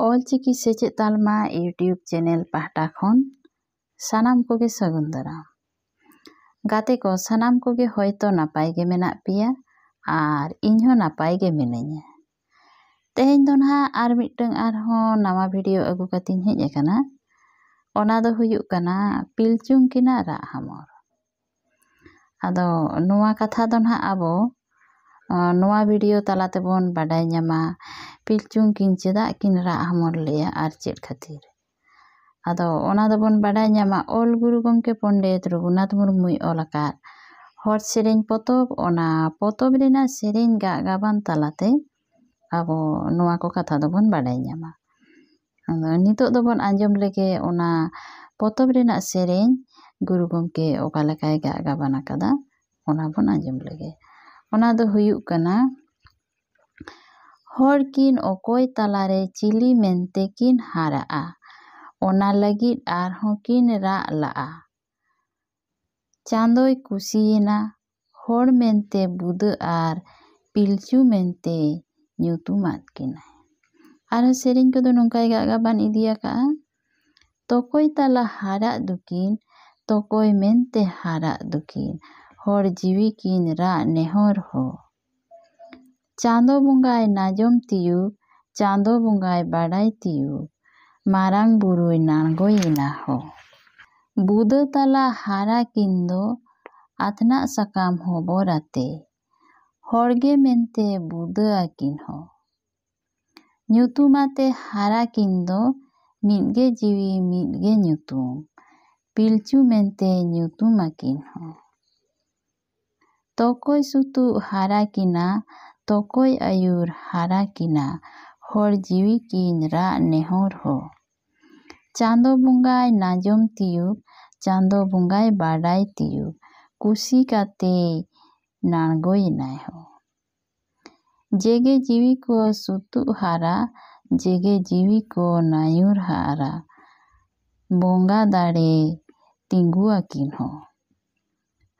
ᱚᱞ ᱪᱤᱠᱤ ᱥᱮᱪᱮᱫ ᱛᱟᱞᱢᱟ YouTube channel ᱯᱟᱦᱴᱟ ᱠᱷᱚᱱ ᱥᱟᱱᱟᱢ ᱠᱚᱜᱮ ᱥᱟᱹᱜᱩᱱ ᱫᱟᱨᱟᱢ ᱜᱟᱛᱮ ᱠᱚ ᱥᱟᱱᱟᱢ ᱠᱚᱜᱮ ᱦᱚᱭᱛᱚ ᱱᱟᱯᱟᱭ ᱜᱮ ᱢᱮᱱᱟᱜ ᱯᱮᱭᱟ ᱟᱨ ᱤᱧ ᱦᱚᱸ ᱱᱟᱯᱟᱭ ᱜᱮ ᱢᱤᱱᱟᱹᱧᱟ ᱛᱮᱦᱮᱧ ᱫᱚ ᱱᱟᱦᱟᱜ ᱟᱨ ᱢᱤᱫᱴᱟᱝ ᱟᱨᱦᱚᱸ ᱱᱟᱣᱟ ᱵᱷᱤᱰᱤᱭᱳ ᱟᱹᱜᱩ ᱠᱟᱛᱮᱧ ᱦᱮᱡ ᱟᱠᱟᱱᱟ ᱚᱱᱟ ᱫᱚ ᱦᱩᱭᱩᱜ ᱠᱟᱱᱟ ᱯᱤᱞᱪᱩᱝ ᱠᱤᱱᱟᱜ ᱨᱟᱜ ᱦᱟᱢᱚᱨ ᱟᱫᱚ ᱱᱚᱣᱟ ᱠᱟᱛᱷᱟ ᱫᱚ ᱱᱟᱜ ᱟᱵᱚ ᱱᱚᱣᱟ ᱵᱷᱤᱰᱤᱭᱳ ᱛᱟᱞᱟ ᱛᱮᱵᱚᱱ ᱵᱟᱰᱟᱭ ᱧᱟᱢᱟ ᱯᱤᱞᱪᱩ ᱠᱤᱱ ᱪᱮᱫᱟᱜ ᱠᱤᱱ ᱨᱟᱜ ᱦᱚᱢᱚᱨ ᱞᱮᱫᱼᱟ ᱟᱨ ᱪᱮᱫ ᱠᱷᱟᱹᱛᱤᱨ ᱟᱫᱚ ᱚᱱᱟ ᱫᱚᱵᱚᱱ ᱵᱟᱰᱟᱭ ᱧᱟᱢᱟ ᱚᱞ ᱜᱩᱨᱩ ᱜᱚᱢᱠᱮ ᱯᱚᱱᱰᱤᱛ ᱨᱚᱜᱷᱩᱱᱟᱛᱷ ᱢᱩᱨᱢᱩᱭ ᱚᱞ ᱟᱠᱟᱫ ᱦᱚᱲ ᱥᱮᱨᱮᱧ ᱯᱚᱛᱚᱵ ᱚᱱᱟ ᱯᱚᱛᱚᱵ ᱨᱮᱱᱟᱜ ᱥᱮᱨᱮᱧ ᱜᱟᱜ ᱜᱟᱵᱟᱱ ᱛᱟᱞᱟᱛᱮ ᱟᱵᱚ ᱱᱚᱣᱟ ᱠᱚ ᱠᱟᱛᱷᱟ ᱫᱚᱵᱚᱱ ᱵᱟᱰᱟᱭ ᱧᱟᱢᱟ ᱟᱫᱚ ᱱᱤᱛᱚᱜ ᱫᱚᱵᱚᱱ ᱟᱸᱡᱚᱢ ᱞᱮᱜᱮ ᱚᱱᱟ ᱯᱚᱛᱚᱵ ᱨᱮᱱᱟᱜ ᱥᱮᱨᱮᱧ ᱜᱩᱨᱩ ᱜᱚᱢᱠᱮ ᱚᱠᱟ ᱞᱮᱠᱟᱭ ᱜᱟᱜ ᱜᱟᱵᱟᱱ ᱟᱠᱟᱫᱟ ᱚᱱᱟ ᱵᱚᱱ ᱟᱸᱡᱚᱢ ᱞᱮᱜᱮ ᱚᱱᱟ ᱫᱚ ᱦᱩᱭᱩᱜ ᱠᱟᱱᱟ ᱦᱚᱲ ᱠᱤᱱ ᱚᱠᱚᱭ ᱛᱟᱞᱟᱨᱮ ᱪᱤᱞᱤ ᱢᱮᱱᱛᱮ ᱠᱤᱱ ᱦᱟᱨᱟᱜᱼᱟ ᱚᱱᱟ ᱞᱟᱹᱜᱤᱫ ᱟᱨᱦᱚᱸ ᱠᱤᱱ ᱨᱟᱜ ᱞᱟᱜᱼᱟ ᱪᱟᱸᱫᱚᱭ ᱠᱩᱥᱤᱭᱮᱱᱟ ᱦᱚᱲ ᱢᱮᱱᱛᱮ ᱵᱩᱫᱟᱹ ᱟᱨ ᱯᱤᱞᱪᱩ ᱢᱮᱱᱛᱮ ᱧᱩᱛᱩᱢᱟᱫ ᱠᱤᱱᱟᱭ ᱟᱨ ᱥᱮᱨᱮᱧ ᱠᱚᱫᱚ ᱱᱚᱝᱠᱟᱭ ᱜᱟᱜ ᱜᱟᱵᱟᱱ ᱤᱫᱤ ᱟᱠᱟᱫᱼᱟ ᱛᱚᱠᱚᱭ ᱛᱟᱞᱟ ᱦᱟᱨᱟᱜ ᱫᱚᱠᱤᱱ ᱛᱚᱠᱚᱭ ᱢᱮᱱᱛᱮ ᱦᱟᱨᱟᱜ ᱫᱚᱠᱤᱱ ᱦᱚᱲ ᱡᱤᱣᱤ ᱠᱤᱱ ᱨᱟᱜ ᱱᱮᱦᱚᱨ ᱦᱚ ᱪᱟᱸᱫᱚ ᱵᱚᱸᱜᱟᱭ ᱱᱟᱡᱚᱢ ᱛᱤᱭᱩᱜ ᱪᱟᱸᱫᱚ ᱵᱚᱸᱜᱟᱭ ᱵᱟᱰᱟᱭ ᱛᱤᱭᱩᱜ ᱢᱟᱨᱟᱝ ᱵᱩᱨᱩᱭ ᱱᱟᱬᱜᱚᱭ ᱮᱱᱟ ᱦᱳ᱾ ᱵᱩᱫᱟᱹ ᱛᱟᱞᱟ ᱦᱟᱨᱟ ᱠᱤᱱ ᱫᱚ ᱟᱛᱱᱟᱜ ᱥᱟᱠᱟᱢ ᱦᱚᱵᱚᱨ ᱟᱛᱮ ᱦᱚᱲ ᱜᱮ ᱢᱮᱱᱛᱮ ᱵᱩᱫᱟᱹ ᱟᱹᱠᱤᱱ ᱦᱳ᱾ ᱧᱩᱛᱩᱢ ᱟᱛᱮ ᱦᱟᱨᱟ ᱠᱤᱱ ᱫᱚ ᱢᱤᱫ ᱜᱮ ᱡᱤᱣᱤ ᱢᱤᱫ ᱜᱮ ᱧᱩᱛᱩᱢ ᱯᱤᱞᱪᱩ ᱢᱮᱱᱛᱮ ᱧᱩᱛᱩᱢ ᱟᱹᱠᱤᱱ ᱦᱳ᱾ ᱛᱚᱠᱚᱭ ᱥᱩᱛᱩᱜ ᱦᱟᱨᱟ ᱠᱤᱱᱟ ᱛᱚᱠᱚᱭ ᱟᱹᱭᱩᱨ ᱦᱟᱨᱟ ᱠᱤᱱᱟ ᱦᱚᱲ ᱡᱤᱣᱤ ᱠᱤᱱ ᱨᱟᱜ ᱱᱮᱦᱚᱨ ᱦᱳ᱾ ᱪᱟᱸᱫᱚ ᱵᱚᱸᱜᱟᱭ ᱱᱟᱡᱚᱢ ᱛᱤᱭᱩᱜ ᱪᱟᱸᱫᱚ ᱵᱚᱸᱜᱟᱭ ᱵᱟᱰᱟᱭ ᱛᱤᱭᱩᱜ ᱠᱩᱥᱤ ᱠᱟᱛᱮᱭ ᱱᱟᱬᱜᱚᱭᱮᱱᱟᱭ ᱦᱳ᱾ ᱡᱮᱜᱮ ᱡᱤᱣᱤ ᱠᱚ ᱥᱩᱛᱩᱜ ᱦᱟᱨᱟ ᱡᱮᱜᱮ ᱡᱤᱣᱤ ᱠᱚ ᱱᱟᱹᱭᱩᱨ ᱦᱟᱨᱟ ᱵᱚᱸᱜᱟ ᱫᱟᱲᱮ ᱛᱤᱸᱜᱩ ᱟᱹᱠᱤᱱ ᱦᱚᱸ᱾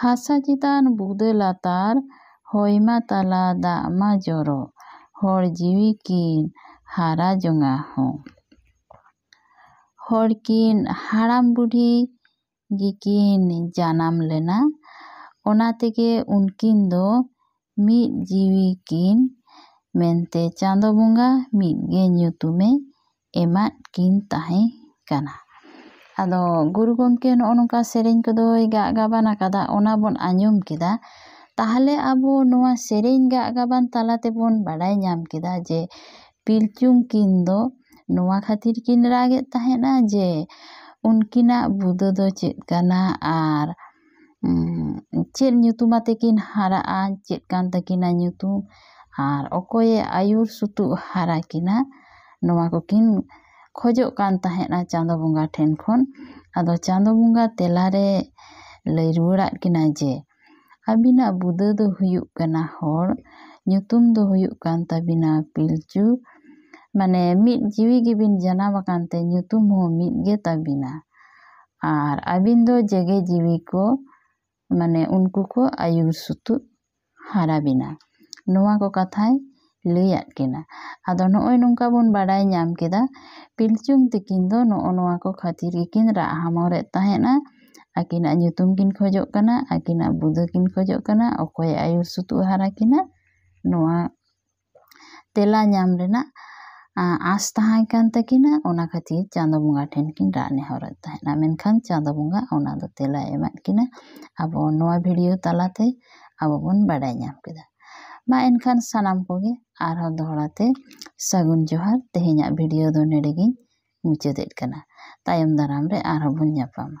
ᱦᱟᱥᱟ ᱪᱮᱛᱟᱱ ᱵᱩᱫᱟᱹ ᱞᱟᱛᱟᱨ ᱦᱚᱭ ᱢᱟ ᱛᱟᱞᱟ ᱫᱟᱜ ᱢᱟ ᱡᱚᱨᱚ ᱦᱚᱲ ᱡᱤᱣᱤ ᱠᱤᱱ ᱦᱟᱨᱟ ᱡᱚᱝᱟ ᱦᱚᱸ᱾ ᱦᱚᱲ ᱠᱤᱱ ᱦᱟᱲᱟᱢ ᱵᱩᱰᱷᱤ ᱜᱮᱠᱤᱱ ᱡᱟᱱᱟᱢ ᱞᱮᱱᱟ᱾ ᱚᱱᱟ ᱛᱮᱜᱮ ᱩᱱᱠᱤᱱ ᱫᱚ ᱢᱤᱫ ᱡᱤᱣᱤ ᱠᱤᱱ ᱢᱮᱱᱛᱮ ᱪᱟᱸᱫᱚ ᱵᱚᱸᱜᱟ ᱢᱤᱫ ᱜᱮ ᱧᱩᱛᱩᱢᱮ ᱮᱢᱟᱫ ᱠᱤᱱ ᱛᱟᱦᱮᱸ ᱠᱟᱱᱟ᱾ ᱟᱫᱚ ᱜᱩᱨᱩ ᱜᱚᱢᱠᱮ ᱱᱚᱜᱼᱚ ᱱᱚᱝᱠᱟ ᱥᱮᱨᱮᱧ ᱠᱚᱫᱚᱭ ᱜᱟᱜ ᱜᱟᱵᱟᱱ ᱟᱠᱟᱫᱟ ᱚᱱᱟ ᱵᱚᱱ ᱟᱸᱡᱚᱢ ᱠᱮᱫᱟ᱾ ᱛᱟᱦᱚᱞᱮ ᱟᱵᱚ ᱱᱚᱣᱟ ᱥᱮᱨᱮᱧ ᱜᱟᱜ ᱜᱟᱵᱟᱱ ᱛᱟᱞᱟ ᱛᱮᱵᱚᱱ ᱵᱟᱰᱟᱭ ᱧᱟᱢ ᱠᱮᱫᱟ ᱡᱮ ᱯᱤᱞᱪᱩ ᱠᱤᱱ ᱫᱚ ᱱᱚᱣᱟ ᱠᱷᱟᱹᱛᱤᱨ ᱠᱤᱱ ᱨᱟᱜᱽ ᱮᱫ ᱛᱟᱦᱮᱸᱫᱼᱟ ᱡᱮ ᱩᱱᱠᱤᱱᱟᱜ ᱵᱩᱫᱟᱹ ᱫᱚ ᱪᱮᱫ ᱠᱟᱱᱟ ᱟᱨ ᱪᱮᱫ ᱧᱩᱛᱩᱢ ᱟᱛᱮ ᱠᱤᱱ ᱦᱟᱨᱟᱜᱼᱟ ᱪᱮᱫ ᱠᱟᱱ ᱛᱟᱹᱠᱤᱱᱟ ᱧᱩᱛᱩᱢ ᱟᱨ ᱚᱠᱚᱭᱮ ᱟᱹᱭᱩᱨ ᱥᱩᱛᱩᱜ ᱦᱟᱨᱟ ᱠᱤᱱᱟ ᱱᱚᱣᱟ ᱠᱚᱠᱤᱱ ᱠᱷᱚᱡᱚᱜ ᱠᱟᱱ ᱛᱟᱦᱮᱸᱫᱼᱟ ᱪᱟᱸᱫᱚ ᱵᱚᱸᱜᱟ ᱴᱷᱮᱱ ᱠᱷᱚᱱ ᱟᱫᱚ ᱪᱟᱸᱫᱚ ᱵᱚᱸᱜᱟ ᱛᱮᱞᱟ ᱨᱮ ᱞᱟᱹᱭ ᱨᱩᱣᱟᱹᱲᱟᱫ ᱠᱤᱱᱟᱭ ᱡᱮ ᱟᱹᱵᱤᱱᱟᱜ ᱵᱩᱫᱟᱹ ᱫᱚ ᱦᱩᱭᱩᱜ ᱠᱟᱱᱟ ᱦᱚᱲ ᱧᱩᱛᱩᱢ ᱫᱚ ᱦᱩᱭᱩᱜ ᱠᱟᱱ ᱛᱟᱹᱵᱤᱱᱟ ᱯᱤᱞᱪᱩ ᱢᱟᱱᱮ ᱢᱤᱫ ᱡᱤᱣᱤ ᱜᱮᱵᱤᱱ ᱡᱟᱱᱟᱢ ᱟᱠᱟᱱ ᱛᱮ ᱧᱩᱛᱩᱢ ᱦᱚᱸ ᱢᱤᱫ ᱜᱮ ᱛᱟᱹᱵᱤᱱᱟ ᱟᱨ ᱟᱹᱵᱤᱱ ᱫᱚ ᱡᱮᱜᱮ ᱡᱤᱣᱤ ᱠᱚ ᱢᱟᱱᱮ ᱩᱱᱠᱩ ᱠᱚ ᱟᱹᱭᱩᱨ ᱥᱩᱛᱩᱜ ᱦᱟᱨᱟ ᱵᱤᱱᱟ ᱱᱚᱣᱟ ᱠᱚ ᱠᱟᱛᱷᱟᱭ ᱞᱟᱹᱭᱟᱫ ᱠᱤᱱᱟ᱾ ᱟᱫᱚ ᱱᱚᱜᱼᱚᱭ ᱱᱚᱝᱠᱟ ᱵᱚᱱ ᱵᱟᱰᱟᱭ ᱧᱟᱢ ᱠᱮᱫᱟ ᱯᱤᱞᱪᱩᱝ ᱛᱤᱠᱤᱱ ᱫᱚ ᱱᱚᱜᱼᱚ ᱱᱚᱣᱟ ᱠᱚ ᱠᱷᱟᱹᱛᱤᱨ ᱜᱮᱠᱤᱱ ᱨᱟᱜ ᱦᱟᱢᱚᱨᱮᱫ ᱛᱟᱦᱮᱸᱫᱼᱟ᱾ ᱟᱹᱠᱤᱱᱟᱜ ᱧᱩᱛᱩᱢ ᱠᱤᱱ ᱠᱷᱚᱡᱚᱜ ᱠᱟᱱᱟ, ᱟᱹᱠᱤᱱᱟᱜ ᱵᱩᱫᱟᱹ ᱠᱤᱱ ᱠᱷᱚᱡᱚᱜ ᱠᱟᱱᱟ, ᱚᱠᱚᱭᱮ ᱟᱹᱭᱩᱨ ᱥᱩᱛᱩᱜ ᱦᱟᱨᱟ ᱠᱤᱱᱟ ᱱᱚᱣᱟ ᱛᱮᱞᱟ ᱧᱟᱢ ᱨᱮᱱᱟᱜ ᱟᱸᱥ ᱛᱟᱦᱮᱸ ᱠᱟᱱ ᱛᱟᱹᱠᱤᱱᱟ᱾ ᱚᱱᱟ ᱠᱷᱟᱹᱛᱤᱨ ᱪᱟᱸᱫᱚ ᱵᱚᱸᱜᱟ ᱴᱷᱮᱱ ᱠᱤᱱ ᱨᱟᱜ ᱱᱮᱦᱚᱨᱮᱫ ᱛᱟᱦᱮᱸᱫᱼᱟ᱾ ᱢᱮᱱᱠᱷᱟᱱ ᱪᱟᱸᱫᱚ ᱵᱚᱸᱜᱟ ᱚᱱᱟ ᱫᱚ ᱛᱮᱞᱟᱭ ᱮᱢᱟᱫ ᱠᱤᱱᱟ᱾ ᱟᱵᱚ ᱱᱚᱣᱟ ᱵᱷᱤᱰᱤᱭᱳ ᱛᱟᱞᱟ ᱛᱮ ᱟᱵᱚ ᱵᱚᱱ ᱵᱟᱰᱟᱭ ᱧᱟᱢ ᱠᱮᱫᱟ᱾ ᱢᱟ ᱮᱱᱠᱷᱟᱱ ᱥᱟᱱᱟᱢ ᱠᱚᱜᱮ ᱟᱨᱦᱚᱸ ᱫᱚᱦᱲᱟ ᱛᱮ ᱥᱟᱹᱜᱩᱱ ᱡᱚᱦᱟᱨ ᱛᱮᱦᱮᱧᱟᱜ ᱵᱷᱤᱰᱤᱭᱳ ᱫᱚ ᱱᱚᱰᱮ ᱜᱤᱧ ᱢᱩᱪᱟᱹᱫᱮᱫ ᱠᱟᱱᱟ ᱛᱟᱭᱚᱢ ᱫᱟᱨᱟᱢ ᱨᱮ ᱟᱨᱦᱚᱸ ᱵᱚᱱ ᱧᱟᱯᱟᱢᱟ